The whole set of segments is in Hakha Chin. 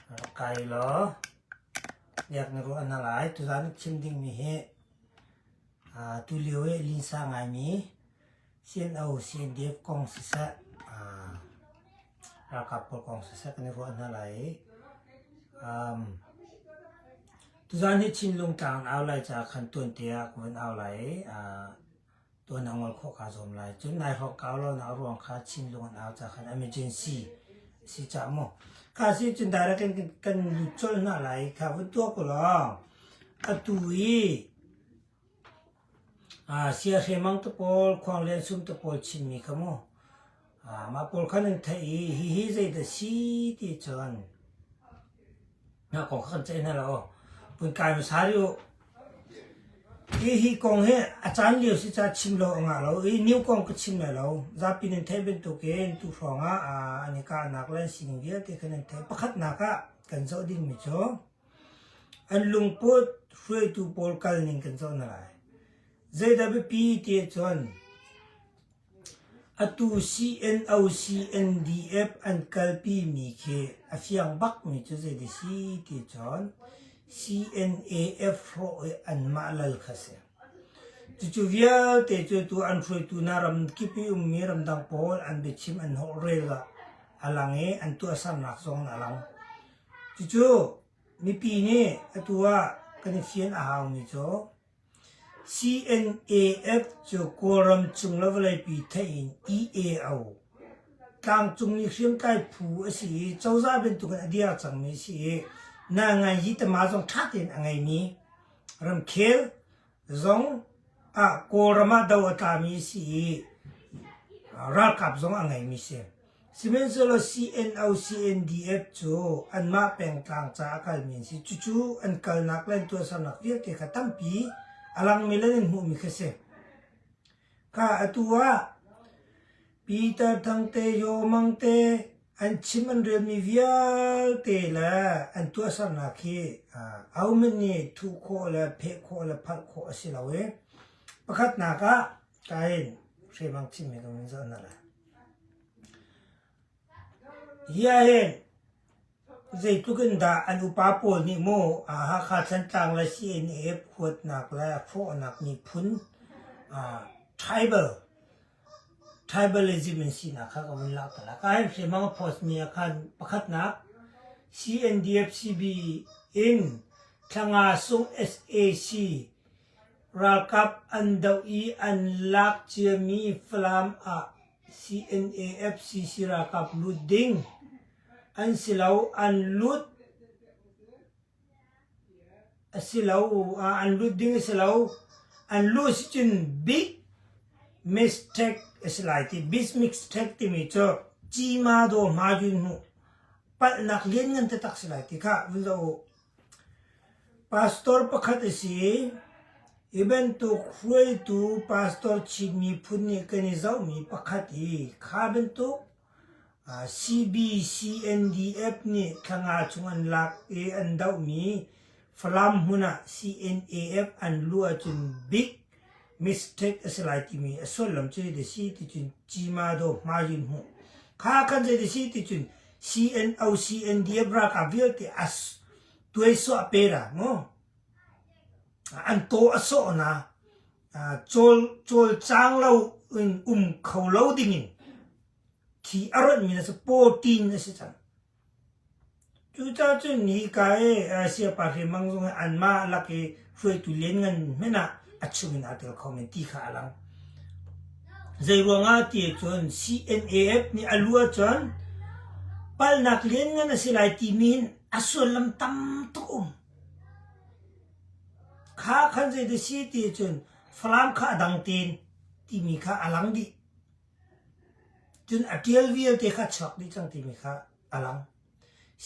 Rak kai law biak na ruah na lai. Tuzaan na chim dingmi hi tulio i linsa ngaimi CNO, CNDF kong siseh, ralkap pawl kong siseh kan i ruah hna lai i tuzaan hi Chinlung tlang an au lai caah khan tuante ah kan vun au lai i tuan a ngol khawh kaa zuam lai. Cun nai hawk ka lonak ruang kha Chinlung an au cakhan emergency a si cah mu. Kha si cun direct kan, kan lut colh hna lai. Kha vun tuak u law atu i aa sia hre mang te pawl, khuang len sum te pawl Chinmi kha mu Mah pawl kha nan theih i hihi zeidah si ti cun na kong kha kan ceih hna lo. Vun kai hmasa rih u. Hihi kong hi a caan lio si ca chim lo a ngah lo i new kong ka chim lai lo. Zapi nan theih bantuk in tu hrawngah an i kahnak le an sining vialte kha nan theih. Pakhatnak ah kan zoh dingmi cu an lungput hruaitu pawl kal ning kan zoh hna lai. Zeidah biapi ti cun Atu CNO-CNDF an kalpi mi khi a fiang bak mi cu zeiti si ti cun CNAF hrawh hi anmah lal kha a si. Cucu vialte cu tu an hruaitu hna ramkip i ummi ramdang pawl an biachim an hnawh rel ah a lang i an tuahsernak zong a lang. Cucu mipi nih atu ah kan i fian a hau mi cu CNAF cu Kawlram cung le vawleipi theih in IE a u. Tlangcung i hriamtlai phu a si i cozah bantukin a dir cangmi a si i Nangayi tama zong ṭha tein a ngeimi ramkhel zong ah Kawlram ah do a tlami a si i ralkap zong a ngeimi a si. Sihmanhsehlaw CNO-CNDF cu anmah pengtlang caah a kalmi an si. Cucu an kalnak le an tuahsernak vialte kha tampi a langmi le nan hmuhmi kha si. Kha atu ah Peter Thangte, Yaw Mang te an chim an relmi vialte le an tuahsernak hi ahohmanh nih thuh khawh le pheh khawh le phalh khawh a si lo i pakhatnak ah Kai hriamang chinmi ka ningzah na la. Hiya he zeitluk in dah an upa pawl nih maw a Hakha Thantlang le CNF huatnak le fawhnak miphun uh, tribal tribalism in sinak kha ka vun lak tala. Ka hen hriamang a post mi ah khan pakhatnak CNDF-CB in Thlanga Sung SAC Ralkap an doh i an lak ciami Falam ah CNAFCC ralkap lut ding an si lo an lut a si lo an lut ding a si lo an luh si cun big mistake a si lai ti big mistake timi cu cima daw hma jun hnu palhnak lianngan taktak si lai ti kha vun zoh u. Pastor pakhat a si i hi bantuk hruaitu pastor Chin miphun nih kan i zohmi pakhat hi kha bantuk CBCNDF nih thla chung an lak i an dohmi Falam hmun ah CNAF an luh ahcun bik mistake a si lai timi a sullam cu hiti si ticun Cimado hmaiin hmuh. Kha kan zei si ticun CNO CNDF ralkap vialte as tuaisuah pe da mu. An to a sawh na col col cang lo in um kho lo dingin khi a rawtmi na si 14 na si cang. Cucacun hika i Asia pa hriamngang zung he anmah lak i hruaitu lianngan hmanh ah a chungin aa tel kho men ti kha a lang. Zeiruangah ti ahcun CNAF nih a lu ahcun palnak lianngan a si lai timi in a suallam tam tuk um. Kha khan zeidah si ti ahcun Falam kha a dang tein timi kha a lang dih. Cun a ṭial vialte kha a chuak dih cang timi kha a lang.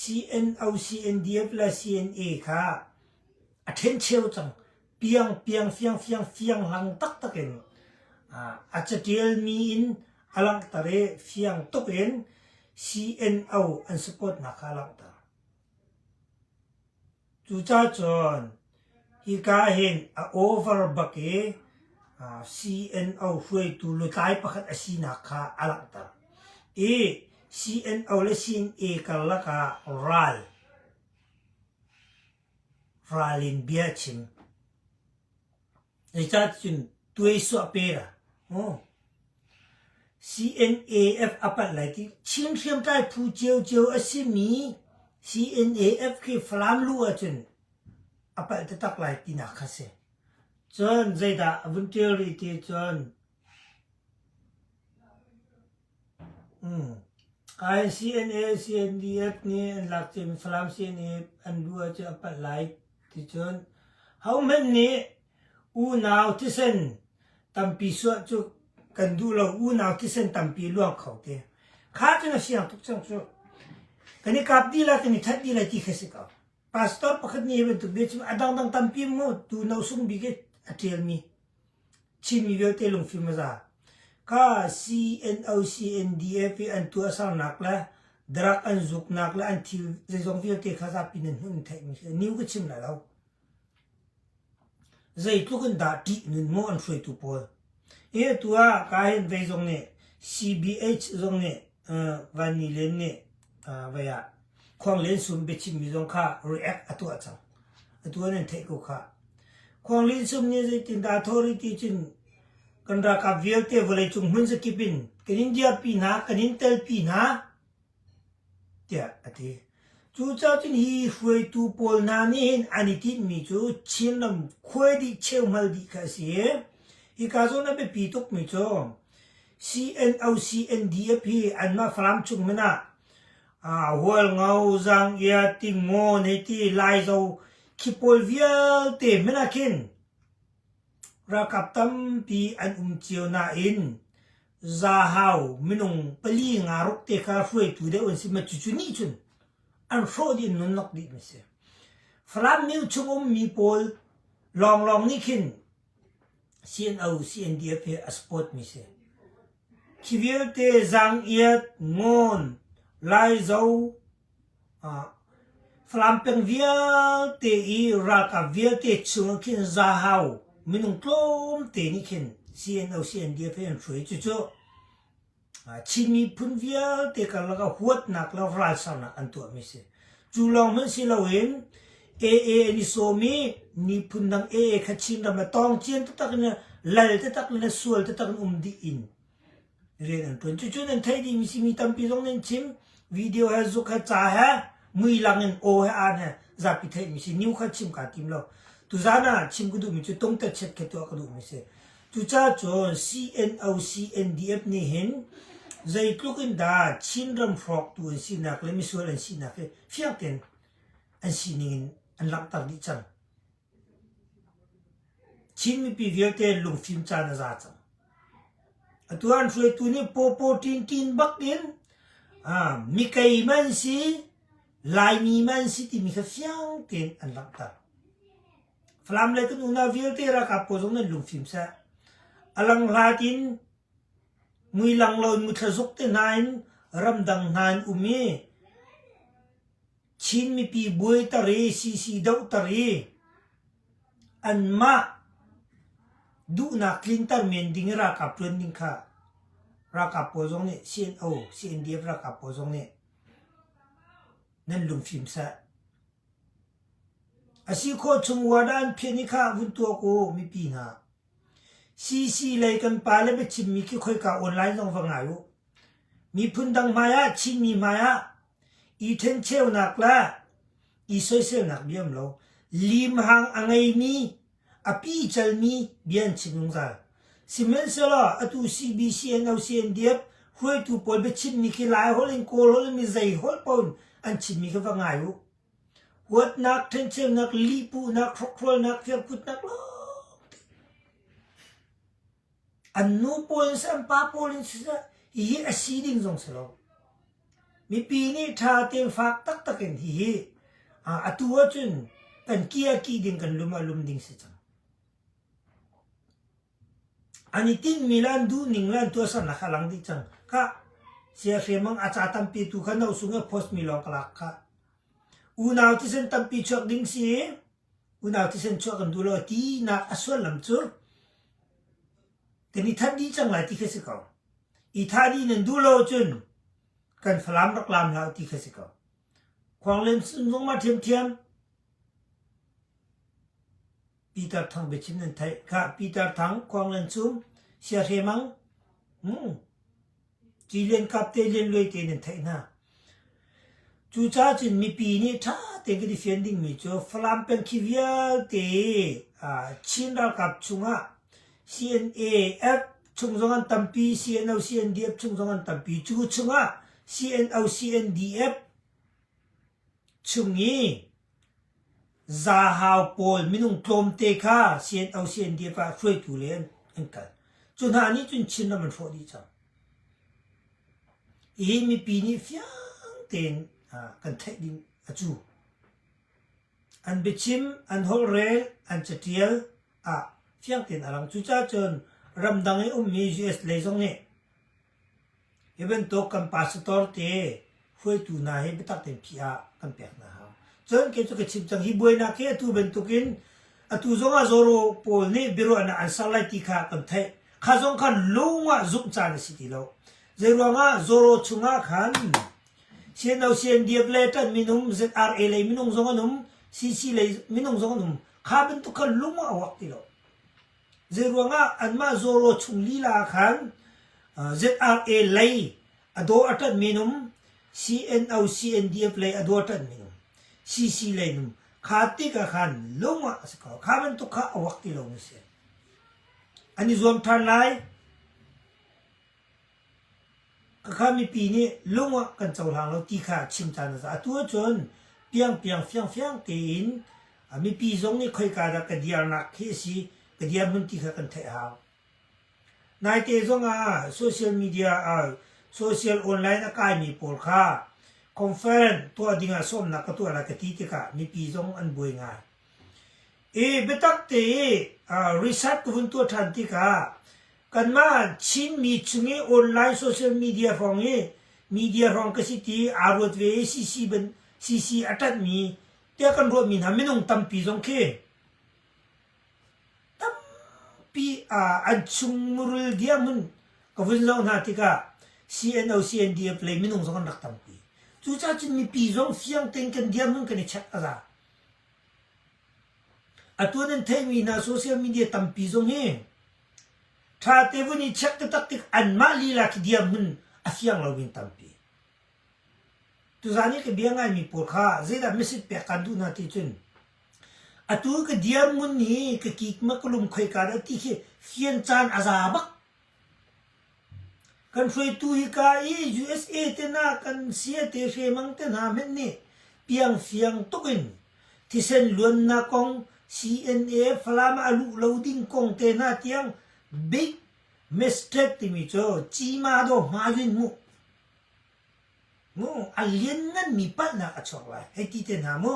CNO, CNDF le CNA kha a ṭhencheu cang. Piangpiang, fiangfiang, fianghlang taktak in a caṭialmi in a langhter i fiang tuk in CNO an supportnak kha a langhter. Cucacun hika hin a over bak i CNO hruaitu lutlai pakhat a sinak kha a langhter. I CNO le CNA karlak ah ral, ral in bia a chim. Zeicah ticun tuaisuah per a hmu? CNAF a palh lai ti. Chin hriamtlai phu ciocio a simi CNAF khi Falam lu ahcun a palh taktak lai tinak kha si. Cun zeidah a vun ṭial rih ti cun, ICNA CNDF nih an lak cun Falam CNF an luh ahcun a palh lai ticun hohmanh nih unau thisen tampi suah cu kan duh lo. Unau thisen tampi luang kho te. Kha cun a siang tuk cang cu. Kan i kap dih lai, kan i that dih lai ti khi a si ko. pastor pakhat ni bantuk ve cu a dangdang tampi mu tu no sung bik a tial mi chimi vialte lungfim aza ka CNO CNDF i an tu asarnak le darak an zuknak le an thil zeizong vialte kha zapi nan hun theih mi khi new ka chim la lo Zeitluk in dah ṭih nunmaw an hruaitu pawl? Hi atu ah Kahin vei zong nih CBH zong nih Vannilen nih vai ah Khuanglen sum biachimmi zong kha react a tuah cang. Atu an an theih ko khah. Khuanglen sum nih zeitindah a thawh rih ti cun kan ralkap vialte vawleicung hmun zakip in kan in dirpi hna, kan in telpi hna. tiah a ti. Cucaah cun hi hruaitu pawl hna nih hin an i tinhmi cu Chinram khuai dih cheuhmal dih kha a si i hika zawn a biapi tukmi cu CNO-CNDF hi anmah Falam chungmin ah Hualngo, Zanggia, Tingo neiti Laizo khi pawl vialte hmin ah khin ralkap tampi an um cio nain Zahau minung pali nga ruk te kha hruaitu deuh an si ma cucu nih cun an hrawh dih in nun lawk dih mi si. Falam mil chung um mi pawl lawnglawng nih khin CNO, CNDF hi a support mi si. Khi vialte Zang Iat, Ngon, Laizo, Falam peng vialte i ralkap vialte chungah khin zahau minung tlawmte nih khin CNO CNDF he an hruai i cucu Chin miphun vialte karlak ah huatnak le ralsarnak an tuahmi a si. Cu lawng hmanh si loin AA an i sawm i niphun dang AA kha Chinram le tawngcian taktak in le lal taktak le le sual taktak in um dih in rian an ṭuan. Cucu nan theih dih mi si mi tampi zong nih an chim. Video he zuk he ca he muilang in aw he aan he zapi theih mi si. New kha chim kaa tim lo. Tuzaan ah chim ka duh mi cu tungte chiat khi tuah ka duh mi si. Cucacun CNO CNDF nih hin zeitluk in dah Chinram hrawktu an sinak le misual an sinak hi fiang tein an sining in an langhter dih cang. Chin mipi vialte lungfim caan a za cang. Atu an hruaitu nih Pawpaw Ṭinṭin bakin mikei man si, Laimi man si timi kha fiang tein an langhter. Falam le kan unau vialte ralkap pawl zong nan lungfim seh. A lang hlat in mui lang lo in muthlazuk te hna in ramdang hna an um i Chin mipi buaiter i sisi dohter i anmah duhnak tlinter men ding i ralkap ṭuan ding kha ralkap pawl zong nih CNO, CNDF ralkap pawl zong nih nan lungfim sah. A si khawh chung ward ah an phian i kha vun tuak u mipi hna. CC lei kan pale biachimmi khi khoika online zong va ngai u. Miphun dang hmaiah, Chinmi hmaiah i ṭhencheunak le i soiselnak bia um lo. Limhang a ngeimi, a picelmi bia an chim zungzal. Sihmanhsehlaw atu CBCN, OCNDF hruaitu pawl biachimmi khi Lai holh in Kawl holh in mi zei holh paoh in an chimmi khi va ngai u. Huatnak, ṭhencheunak, lihpuhnak, hrokhrolnak, firkutnak lawngte an nu pawl in si, an pa pawl in si seh, hihi a si ding zong si lo. Mipi nih ṭha tein fak taktak in hihi atu ahcun kan kih ah kih ding, kan lum ah lum ding si cang. An i tinhmi le an duhning le an tuahsernak kha a lang dih cang. Khah, sia hriamngang a ca tampi tu kha na usung i post mi lawng ka lak khah. Unau thisen tampi chuak ding si i, unau thisen chuah kan duh lo tinak a suallam cu kan i thanh dih cang lai ti khi a si ko. I thah dih nan duh lo cun kan Falam rak laam hlah u ti khi a si ko. Khuanglin sun zungma ṭhiamṭhiam Pitar Thang biachim nan theih. Khah, Pitar Thang, Khuanglin sum, siahre mang, hmm, ci liankap te lianluai te nan theih hna. Cu caah cun mipi nih ṭha tein kan i fian dingmi cu Falam peng khi vialte ah Chin ralkap chungah CNA, chung zong an tampi CNO CNDF chung zong an tampi cu chungah CNO CNDF chung i zahau pawl minung tlawmte kha CNO CNDF ah hruaitu le an kal cu hna nih cun Chinram an hrawh dih cang hi mipi nih fiang tein kan theih ding a cu An biachim an holhrel, an catial ah fiang tein a lang. Cucaah cun ramdang i ummi US lei zong nih hi bantuk kan pastor te hruaitu hna hi biatak tein phih ah kan pek hna hau. Cun kei cu ka chim cang hi buainak hi atu bantukin atu zongah Zoro pawl nih biaruahnak an ser lai ti kha kan theih. Kha zong kha lung ah zumh caan a si ti lo. Zei ruangah Zoro chungah khan Sianosian diak le ṭan minung, ZRA lei minung zong an um, CC lei minung zong an um. Kha bantuk khan lung a ruak ti lo. Zeiruangah anmah Zoro chung lila ah khan ZRA lei a daw a ṭan minum, CNO CNDF lei a daw a ṭan minum, CC lei num. Kha tik ah khan lung a si ko. Kha bantuk kha a ruak ti lo mi si. An i zuam ṭhan lai. Khakha mipi nih lung ah kan cohlang lo ti kha a chim ṭhan a si. Atu ahcun piangpiang fiangfiang tein a mipi zong nih khoika dah ka diarnak khi a si, ka dirhmun ti kha kan theih a hau. Naite zongah social media ah social online a kaimi pawl kha conference tuah dingah sawmnak ka tuah lai ka ti tikah mipi zong an buai ngai. Hi biatak te research ka hun tuah ṭhan tikah kanmah Chinmi chung i online social media hrawng i media hrawng ka si ti aa ruat ve i CC a ṭanhmi tiah kan ruahmi hna minung tampi zong khi tampi an chungmurul diahmun ka vun zoh hna tikah CNO CNDF lei minung zong an rak tampi. Cucaah cun mipi zong fiang tein kan diahmun kan i check a za. Atu nan theihmi hna social media tampi zong hi ṭha te vun i check taktak tik anmah lila khi dirhmun a fiang loin tampi. Tuzan i ka bia ngaimi pawl kha zeidah message pek kan duh hna ti cun atu ka dirhmun hi ka kikmak ka lum khoi ka ti khi fian caan a za bak Kan hruaitu hika i USA tenak an sia te hriamang te hna hmenh nih piangfiang tuk in thisen luannak kong, CNA Falam ah a luh lo ding kong te hna tiang Big Mistake timi cu cima daw hmai in hmuh, a liannganmi palhnak a chuak lai hei ti te hna mu.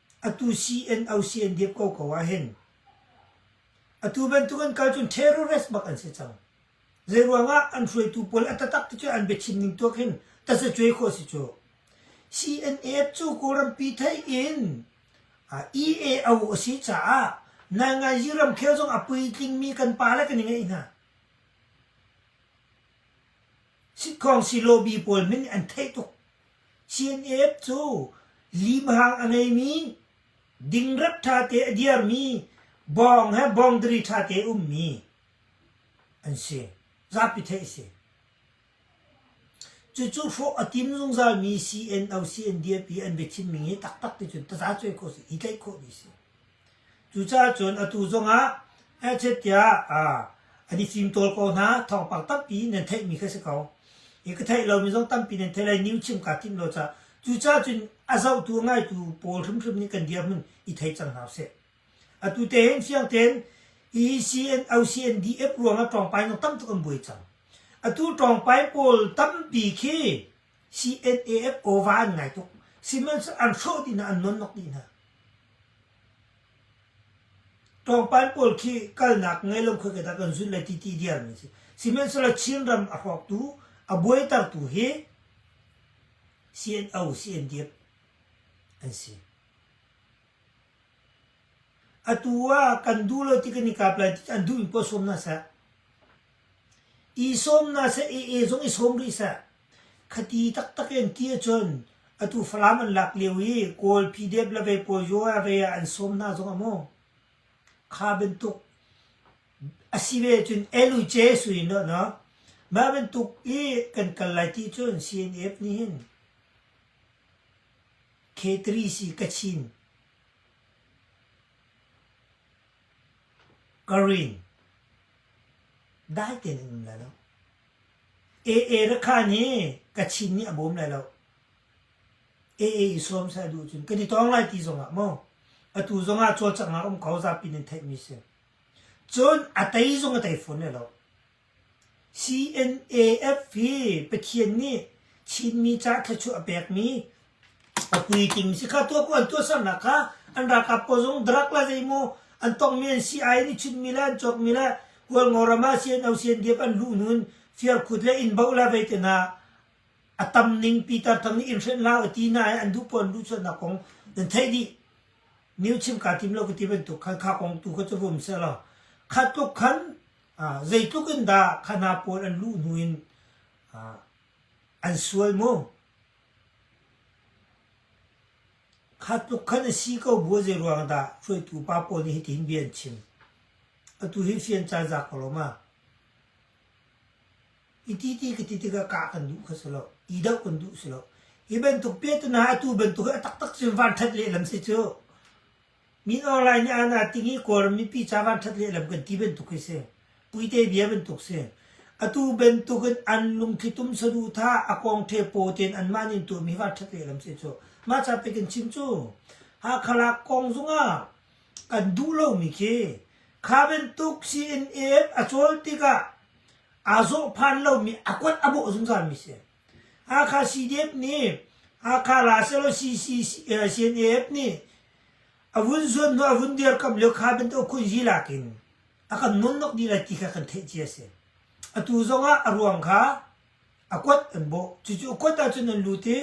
atu CNOCNDF ko ko ah hin atu bantuk an kal cun terrorist bak an si cang. Zeiruangah an hruaitu pawl a tatak ti cu an biachim ning tuak hin tasacuai khawh si cu. CNF cu Kawlrampi thei in EAO a si caah Nangayi ramkhel zong a puitlingmi kan pa le kan i ngeih hna. Sikhong si lobi pawl min an theih tuk. CNF cu limhang a ngeimi, dingrep ṭhate a dirmi, bawng he bawngdari ṭhate ummi an si. Zapi theih a si. Cucu hrawh a tim zungzalmi CNO, CNDF i an biachimning hi taktak ticun tazacuai khawh a si, i tlaih khawh dih a si. Cucaah cun atu zongah hnachet tiah an i cimtawl ko hna. Thawngpang tampi nan theihmi kha si ko. I ka theih lomi zong tampi nan theih lai. New chim kaa timh lo caah. Cucaah cun a zohtu, a ngaitu pawl hrimhrim nih kan dirhmun i thei cang hna usih. Atu te hin fiang tein OCNDF ruangah ṭawngpai nung tam tuk an buai cang. Atu ṭawngpai pawl tampi khi CNAF OVA an ngai tuk. Sihmanhsehlaw an hrawh dih hna, an nawnnok dih hna. Ṭawngpal pawl khi kalnak ngei lo khawi ka dah kan zunh lai ti ti diarmi a si. Sihmanhsehlaw Chinram a hrawktu, a buaitertu hi CNO, CNDF an si. Atu ah kan duh lo ti kan i kap lai ti an duhmi poah sawm hna seh. I sawm hna seh ee zong i sawm rih seh, khati taktak in ti ahcun atu Falam an lak lio i Kawl PDF le vei pawl Yaw ah vei ah an sawm hna zong a maw? Kha bantuk a si ve ahcun LUJ su in law no, mah bantuk i kan kal lai ti cun CNF nih hin K3 si Kachin Ka rin, dai tein an um lai lo. Aa rakhan hi ka chin nih a bawm lai lo. Aa i sawm seh a duh cun kan i tawng lai ti zongah maw atu zongah cawlcanghnak um ko zapi nan theihmi si. Cun a tei zong a tei fawn lai lo. CNAF hi Pathian nih Chinmi caah thluachuah a pekmi a puitling si kha tuah ku an tuahsernak kha an ralkap pawl zong drug la zeimaw an tongmi an si ai nih chunmi le an cawkmi le Kualngo ram ah CNO CNDF an luh hnu in Fialkhut le Innboh la vei tenak a tam ning Pitar thang nih in hrenh hlah u ti na i an duh pawl an luh chuahnak kong nan theih dih new chim kaa tim lo ka ti bantuk khan kha kong tu kha cu vum seh law kha tluk khan zeitluk in dah kha hna pawl an luh hnu in an sual mu? Kha tluk khan a si ko bu zei ruang dah hruaitu pa pawl nih hitin bia an chim? Atu hi fian caan za ko lo ma? I ti ti ka ti tikah kah kan duh kha si lo. I doh kan duh si lo. Hi bantuk pe tu na atu bantuk hi a taktak cun van that lehlam si cu. Min Aung Hlaing nih aan aa ting i Kawlram mipi ca vanṭhat lehlam kan ti bantuk hi si. Puite bia bantuk si. Atu bantuk in an lungthli tum saduhthah a kawngṭhe paw tein anmah nih an tuahmi hi vanṭhat lehlam si cu. Mah ca pek in chim cu Hakha lak kong zungah kan duh lomi khi kha bantuk CNF a cawl tikah aa zawh phan lomi a kuat a bawh zungzalmi si. Hakha CDF nih Hakha la sehlaw CNF nih a vun zuanhnawh a vun dirkamh lio kha bantuk khunzi lak in a kan nonnok dih lai ti kha kan theih ci a si. Atu zongah a ruang kha a kuat an bawh. Cucu a kuat ahcun an lut i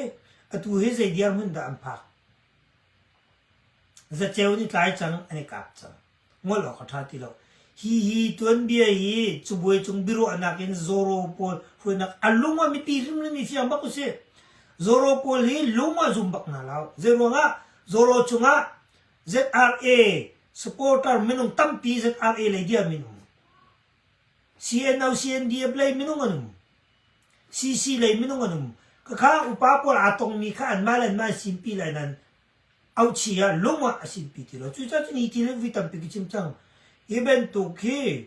atu hi zei dirhmun dah an phak? Zaceu nih tlai cang an i kap cang. ngol awk a ṭha ti lo. Hi hi tuanbia hi cabuai cung biaruahnak in Zoro pawl hruainak a lung ah mipi hrimhrim i fiang bak usih. Zoro pawl hi lung ah zum bak hna lo. Zei ruangah Zoro cungah ZRA supporter minung tampi ZRA lei dia minung CNO CNDF lei minung anum CC lei minung anum kakha upa pawl aa tongmi kha an mal an mal simpi lai nan auhchih ah lung ah a sinpi ti lo. Cucaah ni thil vi tampi ka chim cang. Hi bantuk hi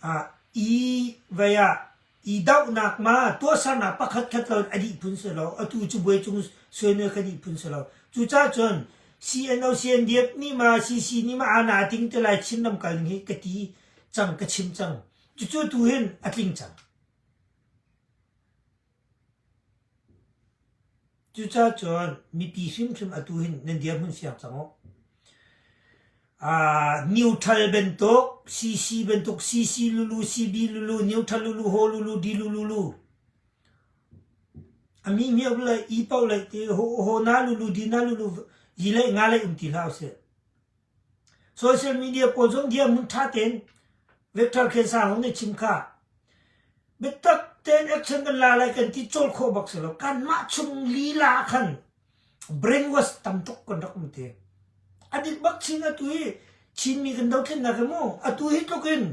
ah i vai ah i dohnak ma tuahsernak pakhat khat lo in a dih phun si lo. Atu cu buai cung suanel kha dih phun si lo. Cucaah cun CNO CNDF nih ma CC nih ma ana ting te lai Chin ram kal hi ka ti cang ka chim cang. Cucu tu hin a tling cang. Cucacun mipi hrimhrim atu hin nan dirhmun siang cang uh. Aa neutral bantuk, CC bantuk, CC lulu, CB lulu, neutral lulu, ho lulu, di lulu lu. Ami miak le i paoh le ti ho ho na lulu, di na lulu, yi le nga le um ti hlah usih. Social media pawl zong hiam ning ṭha tein vector khensang nih a chim kha. Biatak tein action kan la lai kan ti cawl khawh bak si lo. Kanmah chung lila ah khan brainwash tam tuk kan rak um te. A dik bak Chin atu hi Chinmi kan dothlennak hi mu, atu hi tluk in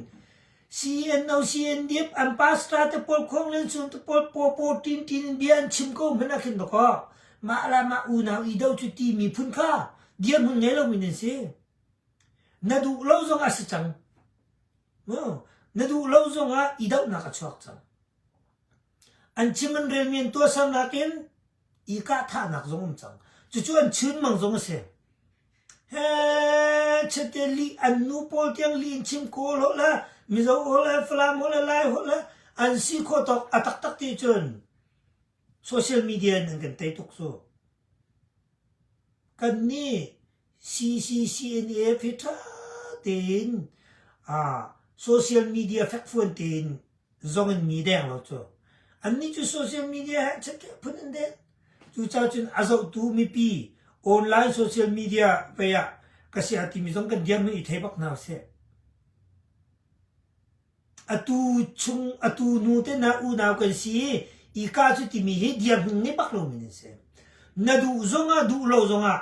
CNO-CNDP an pastor te pawl khonglel chun te pawl popo tintin in bia an chim ko hmanh a khin ba kaw mah la mah unau i do cu ti miphun kha dir hun ngei lo min an si na duh lo zong a si cang na duh lo zong ah i dohnak a chuak cang an chim an rel mian tua sam nakin i kah thahnak zong um cang cucu an chun mang zong a si Chate lih an nu pawl tiang lih in chim kawl holh le Mizo holh le Falam holh le Lai holh le an si khawh tawk a taktak ti cun social media in an kan tei tuk cu. Kan nih CCCNF hi ṭha tein social media fekfuan tein zong in mi deng lo cu. Annih cu social media he ṭhaṭha phun an den. Cucaah cun a zohtu mipi online social media vei ah ka si a timi zong kan dirhmun i thei bak hna sih. Atu chung, atu nu te na unau kan si i, i ka cu timi hi dirhmun ngei bak lomi nan si. Na duh zong ah, duh lo zong ah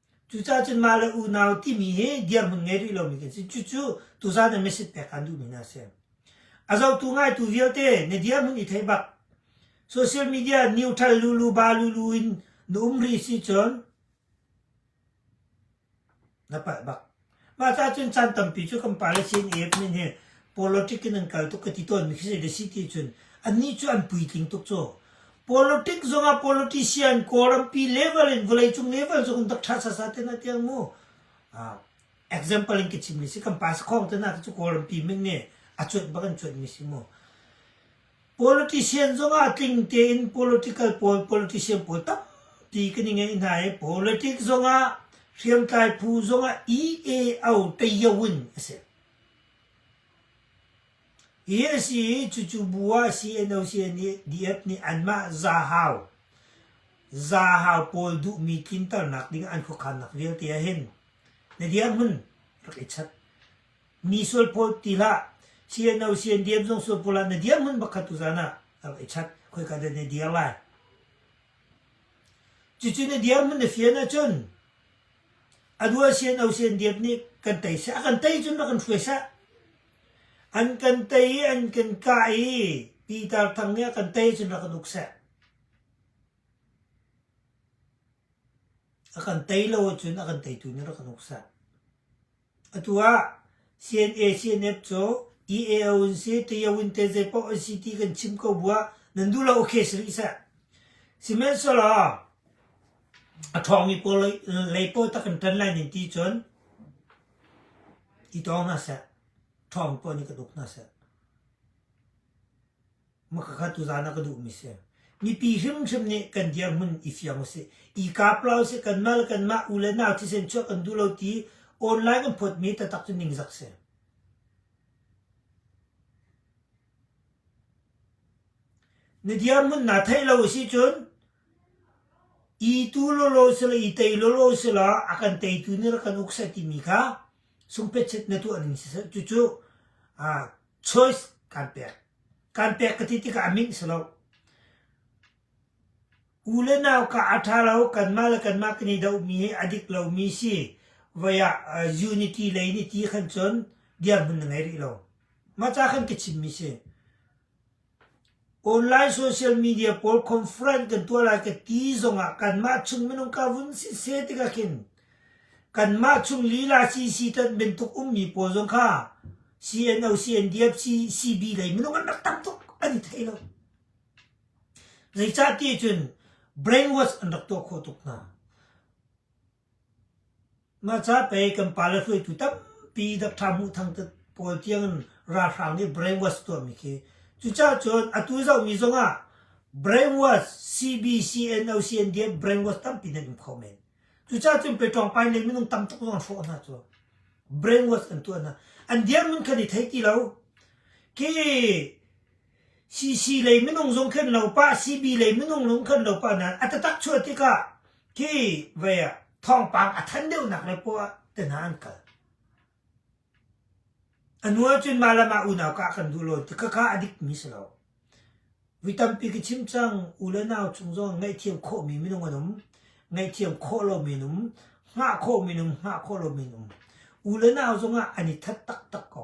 Cucaah cun mah le unau timi hi dirhmun ngei rih lomi kan si. Cucu tuzaan in message pek kan duhmi hna a si. A zotu ngaitu vialte na dirhmun i theih bak. Social media neutral lulu ba lulu in na um rih si cun na palh bak. Mah cahcun caan tampi cu kan policy in AFmin hi politic in an kal tuk ka ti tawn mi khi zei si ti cun annih cu an puitling tuk cu. Politic zongah politician kawlrampi level in vawleicung level zong an dak ṭha sasa te na tiang mu. Uh, example in ka chim mi si kan pas khawng te na te cu kawlrampi min nge a cuanh bak an cuanh mi si mu. Politician zongah tling tein political pawl politician pawl tampi kan i ngei hna i politics zongah hriamtlai phu zongah EAO Tayo in a si. Hi a si i cucu bu ah CNO-CN nih DF nih anmah zahau zahau pawl duhmi tlinternak ding an khuakhannak vialte ah hin na dirhmun rak i chat. Mi sual pawl til ah CNO CNDM zong sual pawl ah na dirhmun pakhat tu zan ah a va i chat khoi ka den na dir lai cucu na dirhmun na fian ahcun adua CNO CNDM nih kan tei sah kan tei cun rak kan hruai sah an kan tei i an kan kah i Pitar Thang nih a kan tei cun rak kan uk sah a kan tei lo ahcun a kan teitu nih rak kan uk sah Atu ah CNA-CNF cu EAO in si, Tayo in te zeipoah an si ti kan chim ko buah nan duh lo okay si rih seh. Sihmanhsehlaw a ṭhawngmi pawl lei, lei pawl tak kan ṭan lai nin ti cun i tong hna seh. Ṭhawng pawl nih ka tuk hna seh. Makakhat tu zan ah ka duhmi si. Mipi hrimhrim nih kan dirhmun i fiang usih. I kap la usih. Kanmah le kanmah u le nau thisen chuah kan duh lo ti online kan phawtmi tatak cu ningzak si. Na dirhmun na theih lo usih cun i tu lolo sila i tei lolo sila a kan teitu ni la kan uk sai timi kha sungpetchet na tuah ning si cucu a choice kan pek. Kan pek ka ti tikah a minh si lo. U le nau ka a ṭha lo, kanmah le kanmah kan i dohmi hi a dik lomi si. Voi ah uh, unity lei ni ti khan cun dirhmun na ngei rih lo. Mah ca khan ka chimmi si. Online social media pawl conference kan tuah lai ka ti zongah kanmah chung minung ka vun si seh tikah khin kanmah chung lila CC tat bantuk ummi pawl zong kha CNO, CNDF, CB lei minung an rak tam tuk an i thei lo. Zeicah ti cun brainwash an rak tuah khawh tuk hna. Ngacha pei kan pale hruaitu tampi Doctor Hmuh Thang te pawl tiangin ralhrang nih brainwash a tuahmi khi cucaah cun atu zohmi zongah brainwash CBCNOCNDF brainwash tampi nan um kho men. Cucaah cun Peṭawngpain le minung tam tuk zong an hrawh hna cu. Brainwash kan tuah hna. An dirhmun kan i thei ti lo. Khi CC lei minung zong khin lo pah, CB lei minung zong khin lo pah nain a tatak chuah tikah khi vei ah thawngpang a thanh deuhnak le poah te hna an kal. A nu ahcun mah le mah unau kah kan duh lo ti kaka a dik mi si lo. Vui tampi ka chim cang, u le nau chung zong ngaihthiam khawhmi minung an um. Ngaihthiam khawh lomi an um. Ngah khawhmi an um, ngah khawh lomi an um. U le nau zong ah an i that taktak ko.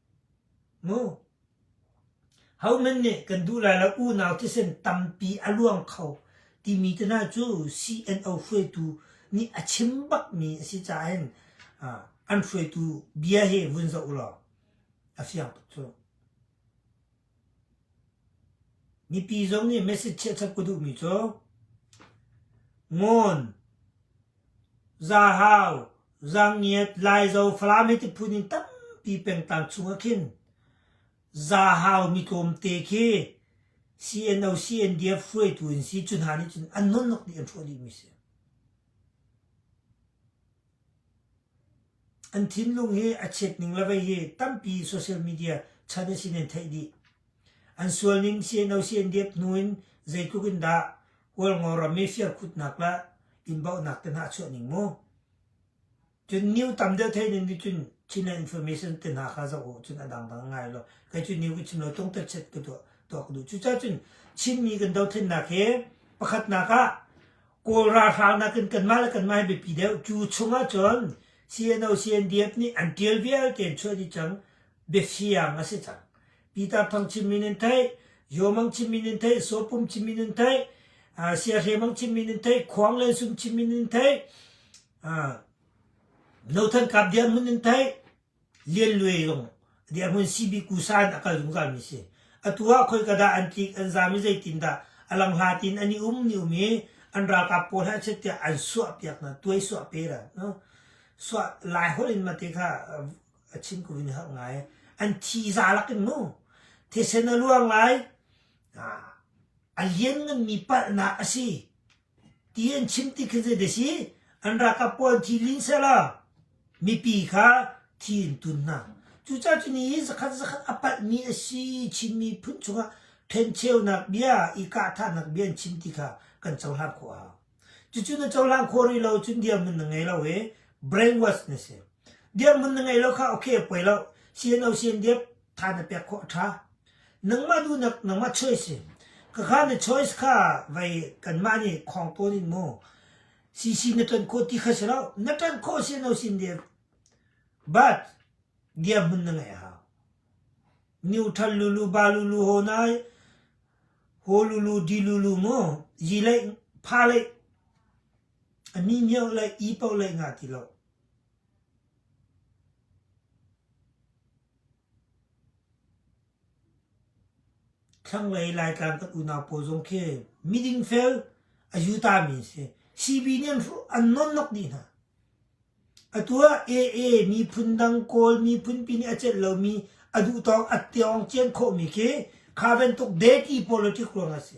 Hohmanh nih kan duh lai lo unau thisen tampi a luang kho timi te hna cu CNO hruaitu nih a chim bakmi a si caah hin an hruaitu bia hi vun zoh ulaw a fiang tuk cu. Mipi zong nih message chiahṭhat ka duhmi cu ngun, zahau, zangiat, laizo, falam hi tiphun in tampi pengtang chungah khin zahau mi tlawmte khi CNO, CNDF hruaitu an si. Cu hna nih cun an nunnak nih an hrawh dihmi a si. An thinlung hi a chiat ning le vei hi tampi social media chan a si nan theih dih. An sualning siano sian diap hnu in zeitluk in dah Hualngo ram i firkhutnak le innbauhnak te hna a chuah ning mu. Cun news tam deuh theih nan nih cun China information te hna kha zoh u cun a dang bang ngai lo. Kei cu news ka chim lo tlung tel chet ka tuah tuah ka duh. Cucaah cun Chinmi kan dothlennak hi pakhatnak ah Kawl ralhral nakin kanmah le kanmah hi biapi deuh. Cu chungah cun CNO CNDF nih an tial vialte an chuah dih cang. Biasiang a si cang. Peter Thang chimmi nin theih, Yomang chimmi nin theih, Sopum chimmi nin theih, Siahre Mang chimmi nin theih, Khuang Len Sum chimmi nin theih, No Than Kap Dian Mun nin theih, Lian Luai lung dirhmun CBkusa in a kal zungzalmi a si. Atu ah khoi ka dah an tlik, an zam i zeitindah a lang hla tiin an i um, ni um i an ralkap pawl he an chiat tiah an suahpiak hna, tuaisuah pe ran. No? Suah lai holh in mate kha a chim ko in har ngai. An thi za lak in mu. Thisen a luang lai. A lian ngan mi palhnak a si. Ti an chim ti khi zeidah a si? An ralkap pawl an thi ling sehla mipi kha thi an tun hna. Cucaah cu ni i zakhat zakhat a palhmi a si Chin miphun chungah ṭhencheunak bia, i kahthahnak bia an chim ti kha kan cohlang khawh a hau. Cucu na cohlang khawh rih lo cun dirhmun na ngei lo i brainwash na si. Dirhmun na ngei lo kha okay a poi lo. CNO CNDF tha na pek khawh a tha nangmah duhnak nangmah choice ka kha na choice kha vai kanmah nih khong tawn in mu cc na ton ko ti kha si lo na tan kho si no sin de but dia mun na ngai ha new thal lulu ba lulu ho nai ho lulu di lulu mu yi lei pha lei ani myo lei i pau lei nga ti lo Thlanglei Laitlang kan unau pawl zong khi miding fel a yuta mi a si. CB nih an nonnok dih hna. Atu ah AA miphun dang Kawl miphunpi nih a celh lomi a duhtawk a tiawng cian khawhmi khi kha bantuk deti politics ruang a si.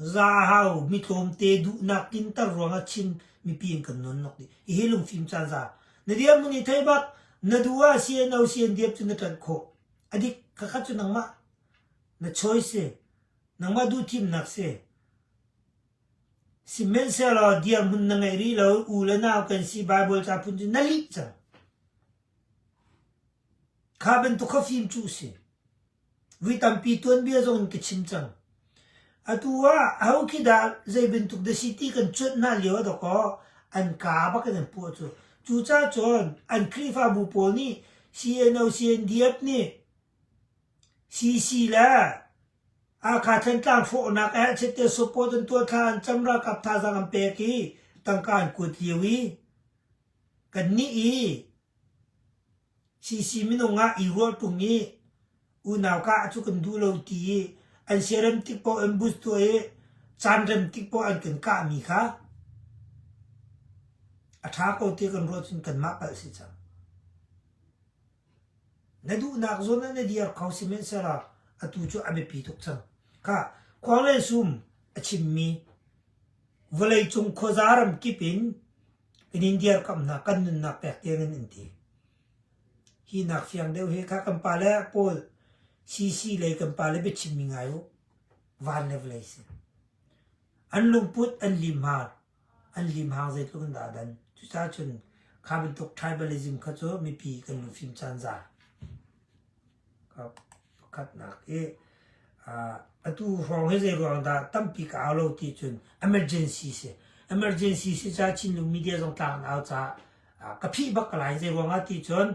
Zahau mitlawmte duhnak tlinter ruangah Chin mipi an kan nawnnok dih. Hihi lungfim caan za. Na diam mun i thei bak. Na duh ah sian no sian diam cu na ṭanh khawh. A dik khakhat cu nangmah na choice si. Nangmah duh thimnak si. Sihmanhsehlaw dirhmun na ngei rih lo. U le nau kan si Bible ca phun cu na lih cang. Kha bantuk kha fim cu a si. Vui tampi tuanbia zong in ka chim cang. Atu ah aho khi dah zei bantuk da si ti kan cuanh hna lio ah dakaw an ka bak in an puah cu. Cucacun an Khrihfabu pawl nih CNO, CNDF nih CC le Hakha Thantlang hrawhnak ah Chepter support an tuah thla, an cam ralkap thazaang an pek i tangka an kuat lio i Kannih i CC minung ah i ruah ṭung i unauka ah cu kan duh lo ti i an siarem tik paoh an bus tuah i caanrem tik paoh an kan kahmi kha a ṭha ko ti kan ruah cun kanmah palh a si cang. Na duhnak zawn ah na dir kho sihmanhsehlaw atu cu a biapi tuk cang. Ka khuang le sum a chimmi vawleicung khuaza ram kip in kan in dirkamhnak kan nunnak pek tiang in an ti. Hi nak fiang deuh hi kha kan pa le Paul CC lei kan pa le biachimmi ngai u. Van le vawlei si. An lungput an lim hal. an limhang zeitluk in dah a dan. Cucaah cun kha bantuk tribalism kha cu mipi kan lung fim caan za. Pakhatnak i atu hrawng hi zei ruang dah tampi ka au lo ti cun emergency si. Emergency si caah Chinlung media zong tlak an au caah ka phih bak ka lai. Zei ruang ah ti cun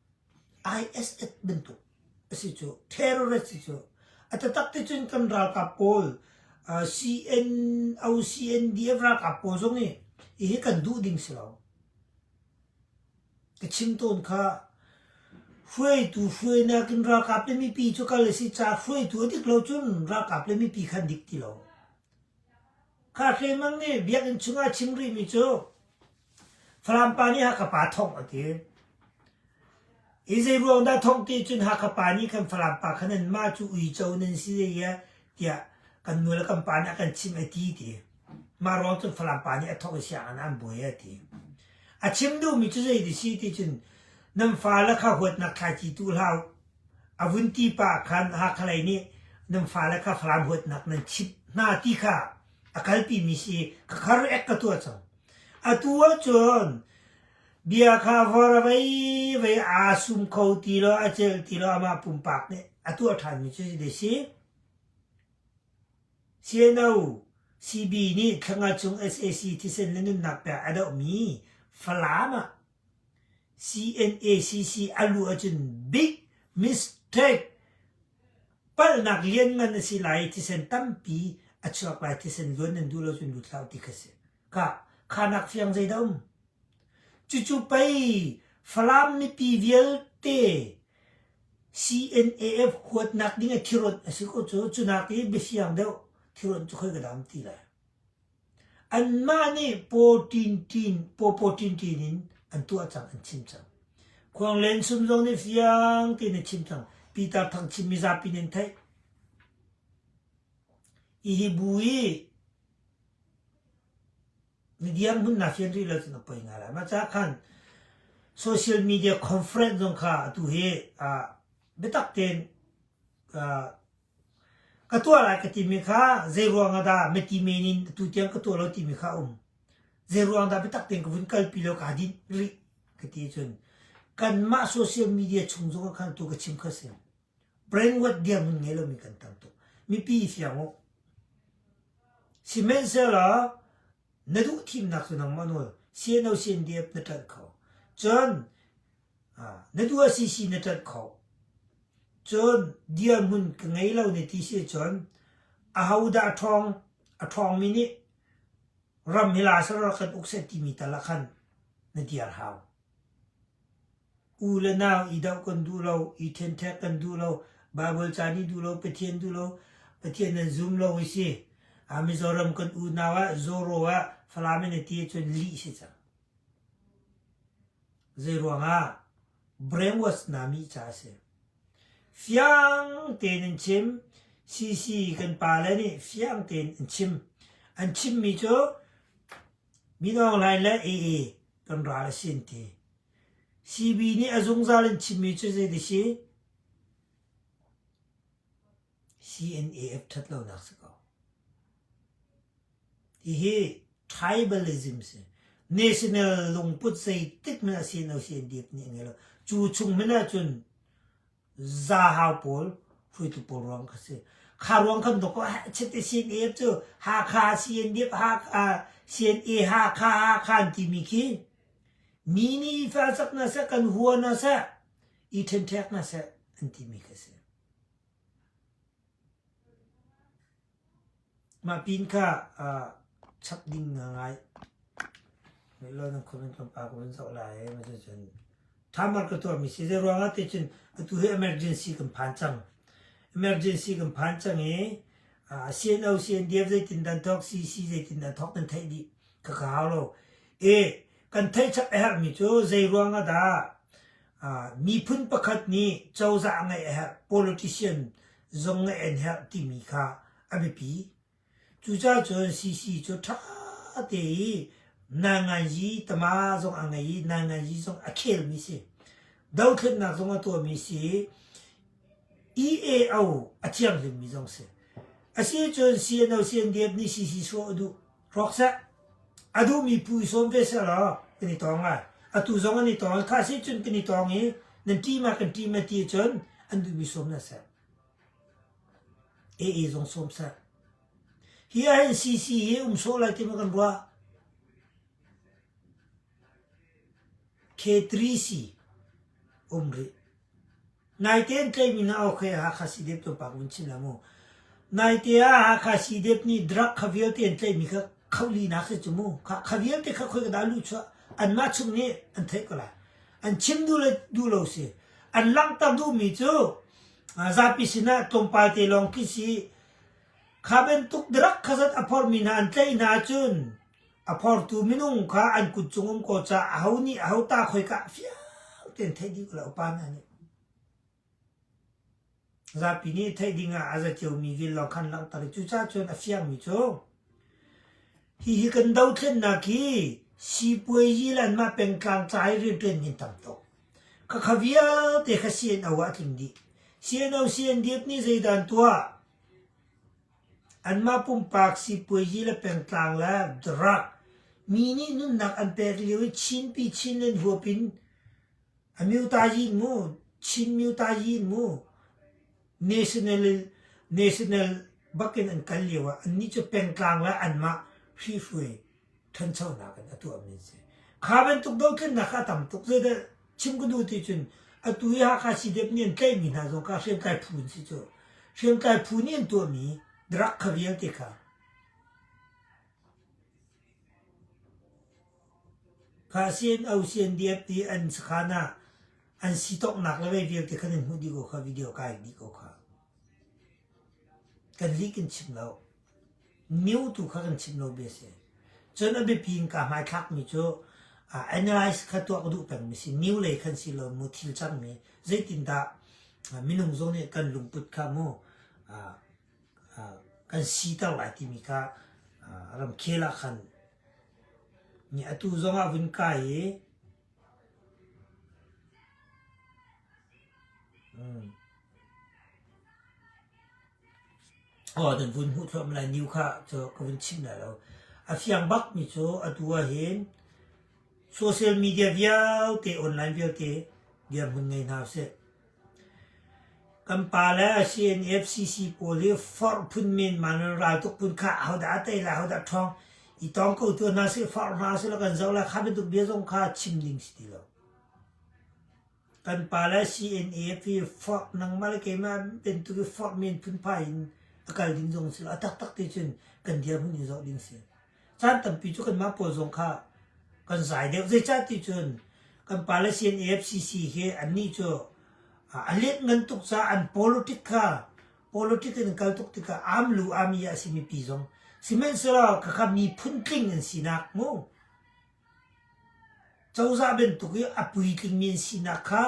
ISF bantuk a si cu terrorist si cu a taktak ti cun kan ralkap pawl CNO CNDF ralkap pawl zong i hihi kan duh ding si lo. Ka chim tawn kha hruaitu hruainak in ralkap le mipi cu kal a si caah hruaitu a dik lo cun ralkap le mipi khan dik ti lo. Kha hre mang nih biakinn chungah chim rihmi cu Falam pa nih Hakha pa thongh a ti. I zeiruang dah thongh ti cun Hakha pa nih khan Falam pa kha nan mah cu uico nan si zeiah tiah kan nu le kan pa nih a kan chimh a ti ti. Mah ruang cun Falam pa nih a thongh i sianginn ah an buai a ti. A chim duhmi cu zei ti si ti cun nan fale kha huatnak thlaici tu hlah a vun ti pa khan Hakha lei nih nan fale kha Falam huatnak nan chimh hna ti kha a kalpimi si ka kharu ek ka tuah cang. Atu ahcun bia kha vor a vevei aa sum kho ti lo, a celh ti lo. Amah pumpak nih a tuah ṭhanmi cu zeidah a si? CNO, CB, nih thlenga cung sac thisen le nunnak pek a dohmi Falam ah CNACC a luh ahcun big mistake palhnak lianngan a si lai i thisen tampi a chuak lai. Thisen zuan nan duh lo cun lut hlah u ti kha si. Ka, khanak fiang zei dah um? Cucu pei Falam mipi vialte CNAF huatnak ding a thirawt a si ko cu. Cunak i biafiang deuh thirawt cu khoi ka dam ti lai. Anmah nih pawpaw tintin in an tuah cang an chim cang. Khuanglen sum zong nih fiang tein a chim cang. Pitar Thang Chin mizapi nih an theih. Hihi bu hi na dirhmun na fian rih lo cun a poi ngai lai. Mah caah khan social media conference zong kha atu hi biatak tein Ka tuah lai ka timi kha zeiruang ah dah mipi men in atu tiang ka tuah lo timi kha a um. Zeiruang dah biatak tein ka vun kalpi law kaa dinh rih ka ti cun kanmah social media chung zong ah khan atu ka chim kha a si. Brainwash dirhmun ngei lomi kan tam tuk. Mipi i fiang u. Sihmanhsehlaw na duh thimnak cu nangmah nawl CNO CNDF na ṭanh kho. Cun Na duh a si si na ṭanh kho. Cun dirhmun ka ngei lo na ti si cun ahodah a ṭhawng a ṭhawngmi nih ram hi la sara kan uk seh timi tal ah khan na dir hau. U le nau i doh kan duh lo, i ṭhenṭhek kan duh lo, Baibal ca nih duh lo, Pathian duh lo, Pathian nan zum lo i si. A Mizoram kan unau ah, Zoro ah Falam in a ti cun lih si cang. Zeiruangah? Brainwash nami ca a si. Fiang tein in chim. CC kan pale nih fiang tein in chim. An chimmi cu Minung Line le AA kan ral a sin ti. CB nih a zungzal in chimmi cu zei ti si? CNAF ṭhat lonak si ko. Hihi tribalism si. National lungput zeitik hmanh a si lo CNDF nih a ngei lo. Cu chung hmanh ahcun zahau pawl hruitu pawl ruang kha si. Kha ruang kam to ko chite CNAF cu Hakha CNDF Hakha CNA Hakha Hakha an timi khi mi nih fa sak hna seh kan hua hna seh i ṭhenṭhek hna seh an timi khi si. Mah pin kha chap ding na ngai. Milaw nan khum in kampa ko nan zoh lai. Mah cucun thamar ka tuahmi si. Zeiruangah ti cun atu hi emergency kan phan cang. Emergency kan phan cang i CNO, CNDF zeitin dan thawk, CC zeitin dan thawk nan theih dih kha ka hau lo. Kan theih chap a herhmi cu zeiruangah dah miphun pakhat nih cozah ngeih a herh politician zong ngeih an herh timi kha a biapi cucacun CC cu ṭha te i nangainji tama zong a ngei i nangainji zong a khelmi si dothlatnak zong a tuahmi si EAO a thianghlimmi zong si asicun CNO CNDF nih CC sawh a duh Rawk seh! A duhmi pu i sawm ve seh law kan i tawng lai. Atu zong an i tawng. Khah si cun kan i tawng i nan ṭim ah kan ṭim a ti cun an duhmi sawm hna seh. AA zong sawm seh. Hi ahhin CC hi um sawh lai ti ma kan ruah. K3C um rih. Naite an tlaihmi na Ohre ah Hakha Sidep tlawmpal ka vun chim lai mu. Naite ah Hakha Sidep nih drug kha vialte an tlaihmi kha khohlinak si cu mu. Kha, kha vialte kha khoi ka dah luh chuah anmah chung nih an theih ko lai. An chim duh le duh lo si. An langhter duhmi cu aa, zapi sinah tlawmpal te lawng khi si. Kha bantuk drug kha zat a phorhmi hna an tlaih hna ahcun A phortu minung kha an kut cung um ko caah aho nih aho ta khoika ah fiang tein theih dih lo. Pa hna nih zapi nih theih ding ah a za ciomi vel lawng khan langhter i cucaah cun a fiangmi cu hihi kan dothlennak hi sipuazi lan ma pengtlang ca i rianṭuan hin tam tuk ka kha vialte kha CNO ah a tling dih CNO CNDF nih zeidan tuah Anmah pumpak sipuaizi le pengtlang le drug mi nih nunnak an pek lio i Chinpi Chin in huap in a mutaizin mu, Chin mutaizin mu, national, national bak in an kal lio ah annih cu pengtlang le anmah hrihhruai ṭhanchonak in a tuahmi a si. Kha bantuk dothlennak kha a tam tuk. Zeidah chim ka duh ti cun atu i Hakha CDF nih an tlaihmi hna zong kha hriamtlai phu an si cu. Hriamtlai phu nih an tuahmi drug kha vialte kha kha CNO, CNDF ti an sakhan ah an si tawknak le vei vialte khan an hmuh dih ko kha video kai dih ko kha. Kan lik in chim lo. News tu kha kan chimh lomi a si. Cun a biapi in kaa hmaithlakmi cu analyze kha tuak duh pengmi si. News lei khan si lo mu thil cangmi. Zeitindah minung zong nih kan lungput kha mu kan siter lai timi kha ramkhel ah khan nih atu zong ah vun kai i Aw, kan vun hmuh thluahmah lai niu kha cu ka vun chim lai lo. A fiang bak mi cu atu ah hin social media vialte, online vialte dirhmun ngei hna usih. Kan pa le CNFCC pawl hi forh phun men man in raltuk phun kha ahodah a tei lai ahodah ṭhawng i tawng ko tuah hna sih, forh hna sih law kan zoh lai. Kha bantuk bia zong kha chim ding si ti lo. Kan pa le CNF hi forh nangmah le keimah bantuk i forh men phunphai in a kal ding zong si lo. A taktak ti cun kan dirhmun in zoh ding si. caan tampi cu kanmah pawl zong kha kan zai deuh zeicah ti cun kan Palestine AFCC hi annih cu a let ngan tuk caah an politic kha politic in kal tuk tikah amlu ami a simi pi zong sihmanhsehlaw khakha miphun tling an sinak mu cozah bantuk i a puitlingmi an sinak kha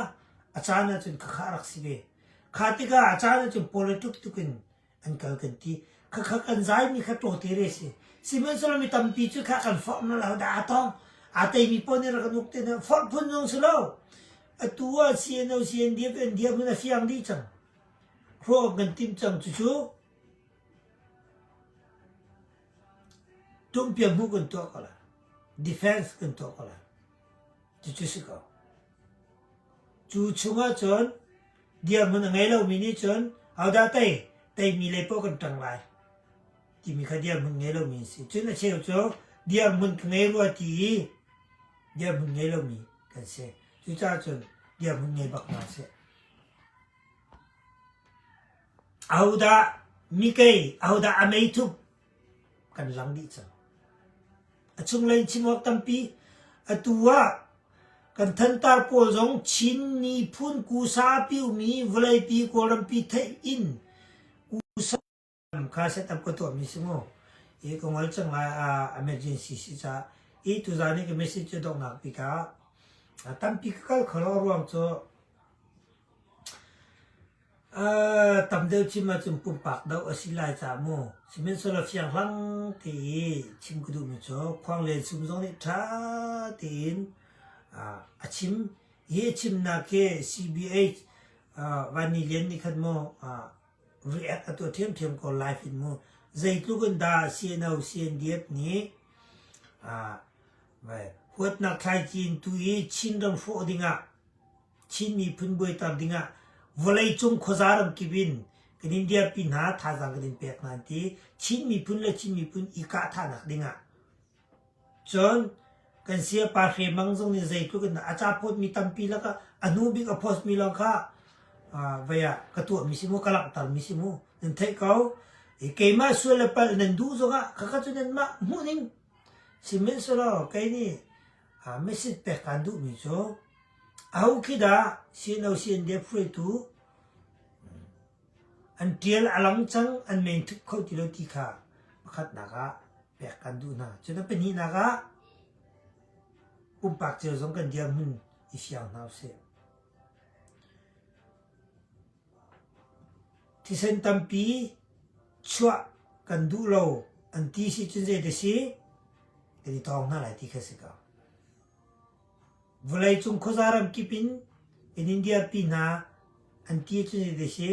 a caan ahcun khakha rak si ve kha tikah a caan ahcun politic tukin an kal kan ti kha kha kan zai mi kha to te re si sihmanhsehlaw mi tampi cu kha kan forh na lo da atong atei mi pon ira kan uk te na forh phun zong si lo atu a CNO CNDF NDF na fiang dih cang hro kan tim cang cu cu tum pia mu kan tuah ko la defense kan tuah ko la cu cu si ko Cu chungah cun dirhmun a ngei lomi nih cun ahodah tei? Teimi lei poah kan ṭang lai timi kha dirhmun ngei lomi an si. Cun a cheu cu dirhmun ka ngei rua ti i dirhmun ngei lomi kan si. Cucaah cun dirhmun ngei bak hna sih. Ahodah mikei ahodah a meithup? kan rang dih cang. A chunglei chimawk tampi atu ah kan thantar pawl zong Chin niphun kusa piumi vawleipi kawlrampi theih in kusa kha setup ka tuahmi si mu. I ka ngol cang lai ah emergency si ca i tu zan i ka message cu donghnak pi ka tampi ka kal kholo ruang cu tam deuh chim ahcun pumpak doh a si lai ca mu. Sihmanhsehlaw fianghlang ti i chim ka duhmi cu khuanglen sum zong nih ṭha tein a chim. Hi a chimnak hi CBH Van Ni Lian nih khan mu react a tuah ṭhiamṭhiam ko live in mu. Zeitluk in dah CNO CNDF nih huatnak thlaici in tu i Chin ram hrawh dingah Chin miphun buaiter dingah vawleicung khuaza ramkip in kan in dirpi hna, thazaang kan in pek hna an ti. Chin miphun le Chin miphun i kahthahnak dingah. Cun kan sia pa Hre Mang zong nih zeitluk in a capawtmi tampi lakah a hnu bik a postmi lawng kha uh, vai ah ka tuahmi si mu, ka langhtermi si mu. Nan theih ko. I keimah sual le palh nan duh zongah khakha cu nan mah hmuhning si men selaw kei nih message pek kan duhmi cu ahu khi dah CNOC NDF hruaitu an tial a lang cang an meng thup kho ti lo ti kha pakhatnak ah pek kan duh hna cu na pahnihnak ah pumpak cio zong kan dirhmun i fiang hna usih Thisen tampi chuah kan duh lo an ti si cun zeidah si? Kan i tawng hna lai ti kha a si ko. Vawleicung khuaza ramkip in in India pi hna an ti cun zeidah si?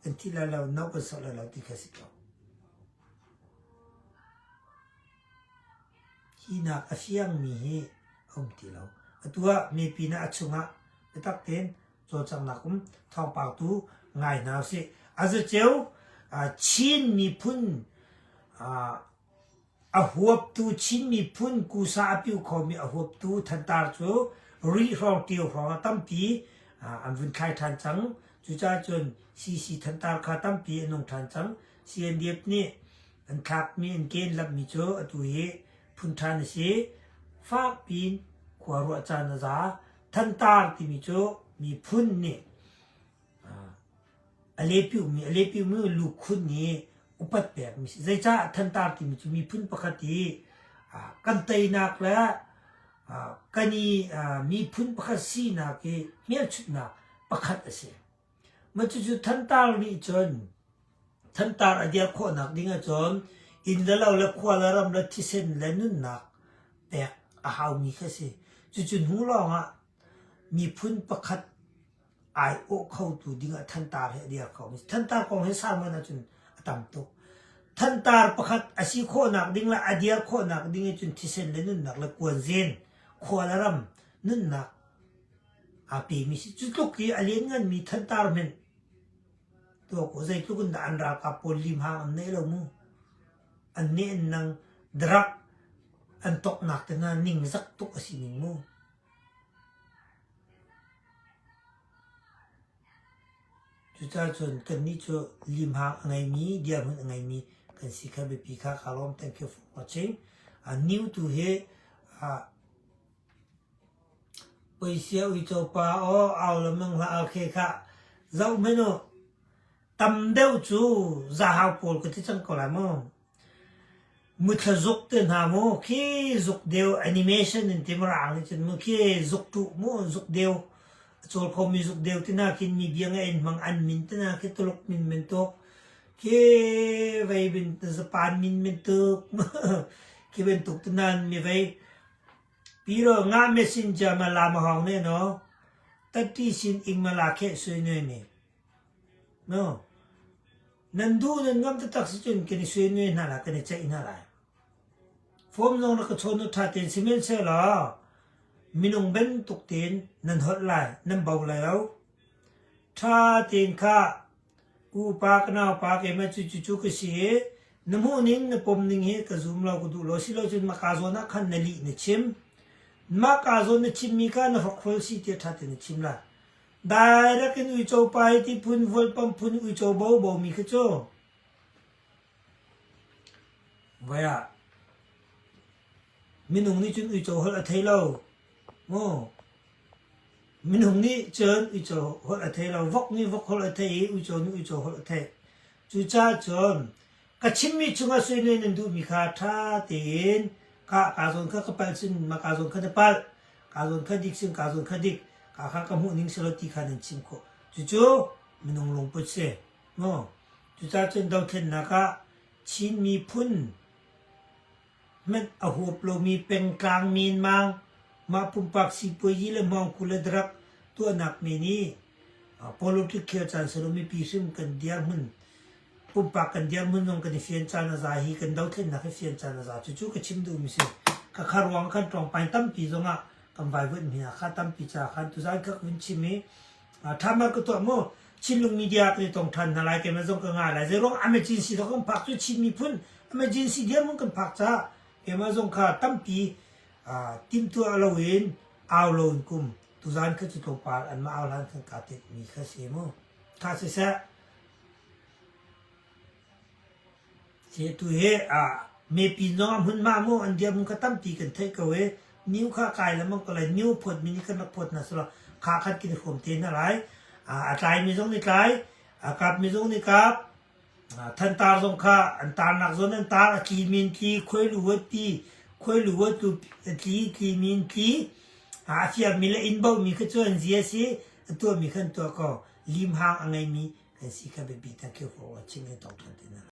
An thi lai lo, no kan sawh lai lo ti kha a si ko. Hinak a fiangmi hi a um ti lo. Atu ah mipi hna a chungah biatak tein cawlcanghnak um thawngpang tu ngai hna usih aziceu Chin miphun a huaptu Chin miphun kusa a piu khomi a huaptu thantar cu ri hrawng tio hrawng a tampi an vun thlai ṭhan cang cucaah cun CC thantar kha tampi an nung ṭhan cang CNDF nih an thlakmi an ken lamhmi cu atu hi phun ṭhan a si fakpiin khua ruah caan a za Thantar timi cu miphun nih alepiumi alepiumi lukhun nih upat pekmi si. Zeicah thantar timi cu miphun pakhat i kan teinak le kan i miphun pakhat sinak i hmelchunhnak pakhat a si. Cucu thantar nih cun thantar a dirh khawhnak ding ahcun inn le lo le khua le ram le thisen le nunnak pek a haumi kha a si. Cucu hnu lawngah miphun pakhat ai awh khotu dingah thantar hi a dir kho mi a si. Thantar kong hi sang men ahcun a tam tuk. Thantar pakhat a si khawhnak ding le a dir khawhnak ding ahcun thisen le nunnak le kuanzen, khua le ram, nunnak A pimi cu tluk i a liannganmi thantar hmenh tuah kaw zeitluk in dah an ralkap pawl limhang an neih lo mu. An neh an nang darak an toknak te hna ningzak tuk a si ning mu. Cucaah cun kannih cu limhang a ngeimi, dirhmun a ngeimi kan si kha biapi kha ka lawm. Thank you for watching. A new tu he uh, Puisio uico pa aw au le meng hlah au khe khah, zoh hmin u, tam deuh cu zahau pawl ka ti cang ko lai mu. Muthla-zuk te hna mu, khi zuk deu animation in ti mu raang nih cun mu, khi zuk ṭuh mu, zuk deu. A cawl khomi zuk deu ti na khin mi biang a en hmang an min ti na, khi Tuluk min men tuk, khi vei bin zapan min men tuk, khi bantuk ti nan mi vei. Piral ngah messenger ma la ma hau ne naw tatti sin ing ma la kheh sui nue ne? No, nan duh nan ngam taktak si cun kan i sui nue hna lai, kan i ceih hna lai. Form zong na ka chawn u ṭha tein sihmanhsehlaw minung bantuk tein nan holh lai, nan bo lai lo. Ṭha tein khah, upa ka naupa keimah cu cucu ka si i na hmuhning na pomning hi ka zum lo ka duh lo asilocun mah kaa zawn ah khan na lih na chim. Mah kaa zawn na chimmi kha na hrokhrawl si tiah ṭha tein na chim la. Direct in uico pa i ti phun, vualpamh phun uico bobo mi khi cu voi ah minung nih cun uico holh a thei lo mu. Minung nih cun uico holh a thei lo. Vok nih vok holh a thei i uico nih uico holh a thei. Cucaah cun ka chimmi chungah suine nan duhmi kha ṭha tein ka ka zawn kha ka palh sin ma ka zawn kha na palh ka zawn kha dik sin ka zawn kha dik ka kha ka hmuh ning selaw ti kha nan chim khawh cucu minung lungput si mu cucaah cun dothlennak ah Chin miphun Hmenh a huap lomi pengtlang minmang, mah pumpak sipuazi le hmawngkul a darak tuahnak men i politics khel caan silo mipi hrim kan dirhmun, pumpak kan dirhmun zong kan i fian caan a za hi kan dothlennak hi fian caan a za. Cucu ka chim duhmi si. Ka khar ruang ah khan ṭawngpain tampi zong ah kan vaivuanh hmin hna. Kha tampi caah khan tuzan ka vun chim i thaman ku tuah mu chinlung media kan i tong than hna lai kemen zong ka nga lai zei ruang emergency zong kan phak cu chin miphun emergency diamun kan phak ca kemen zong kha tampi timtu alo in au lo in kum tuzan kha cu tlopal an ma au lan kan ka ti mi kha si mu tha si se Cetu he ah mipi zongah hmunhma maw an diam kha tampi kan theih ko i new kha kai le mang ko lai new phawtmi nih kan rak phawt hna sulaw kha khat kan i hrawm te hna lai. A tlaimi zong nih tlai, a kapmi zong nih kap, thantar zong kha an tarnak zawn an tar, a tlimi in tli, khuailu huat tli, khuailu huat lu tli, tlimi in tli, a fialmi le inn bohmi kha cu an zi a si, a tuahmi kha an tuah ko. limhang a ngeimi an si kha biapi tak khi hawh a chim i a tawk ṭhan ti hna lo.